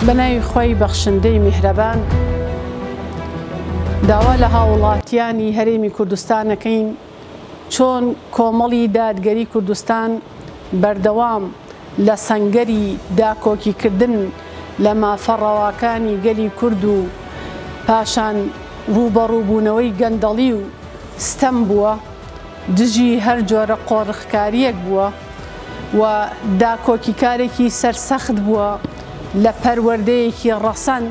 بە ناوی خوای بەخشندەی میهرەبان داوا لە هاوڵاتیانی هەرێمی کوردستان ئەکەین چۆن کۆمەڵی دادگەری کوردستان بەردەوام لە سەنگەری داکۆکیکردن لە مافە ڕەواکانی گەلی کورد و پاشان ڕووبەڕووبوونەوەی گەندەڵی و ستەم بووە، دژی هەر جۆرە قۆرخکارییەک بووە و داکۆکیکارێکی سەرسەخت بووە لە پەروەردەیەکی ڕەسەن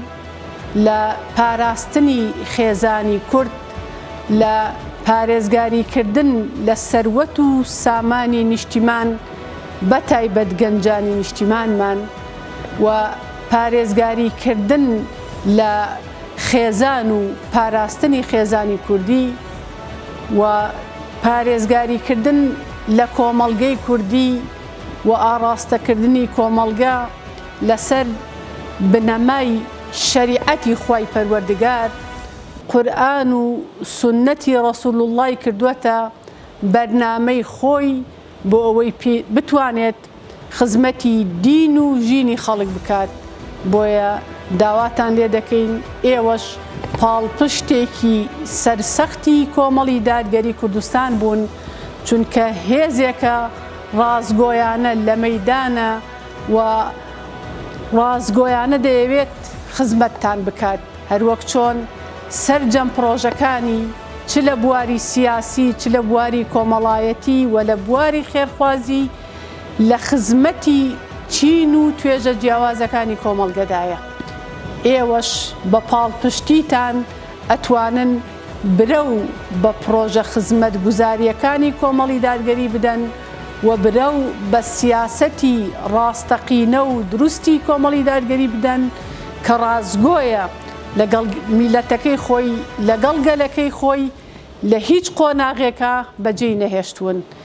لە پاراستنی خێزانی کورد لە پارێزگاریکردن لە سەروەت و سامانی نیشتیمان بە تایبەت گەنجانی نیشتیمانمان و پارێزگاریکردن لە خێزان و پاراستنی خێزانی کوردی و پارێزگاریکردن لە کۆمەڵگەی کوردی و ئاڕاستەکردنی کۆمەڵگە لەسەر بنەمای شەریعەتی خوای پەروەردگار، قورئان و سوننەتی ڕەسولوڵڵای کردووەتە بەرنامەی خۆی بۆ ئەوەی پی بتوانێت خزمەتی دین و ژینی خەڵک بکات، بۆیە داواتان لێ دەکەین ئێوەش پاڵپشتێکی سەرسەختی کۆمەڵی دادگەری کوردستان بوون، چونکە هێزێکە ڕاستگۆیانە لە مەیدانە و ڕاستگۆیانە دەیەوێت خزمەتتان بکات، هەروەک چۆن سەرجەم پڕۆژەکانی. چ لە بواری سیاسی، چ لە بواری کۆمەڵایەتی و لە بواری خێرخوازی لە خزمەتی چین و توێژە جیاوازەکانی کۆمەڵگەدایە. ئێوەش بە پاڵپشتیتان ئەتوانن برەو بە پڕۆژە خزمەتگوزارییەکانی کۆمەڵیدادگەری بدەن و برەو بە سیاسەتی ڕاستەقینە و دروستی کۆمەڵیدادگەری بدەن کە ڕاستگۆیە لەگەڵ میللەتەکەی خۆی، لەگەڵ گەلەکەی خۆی لە هیچ قۆناغێکا بەجێی نەهێشتوون.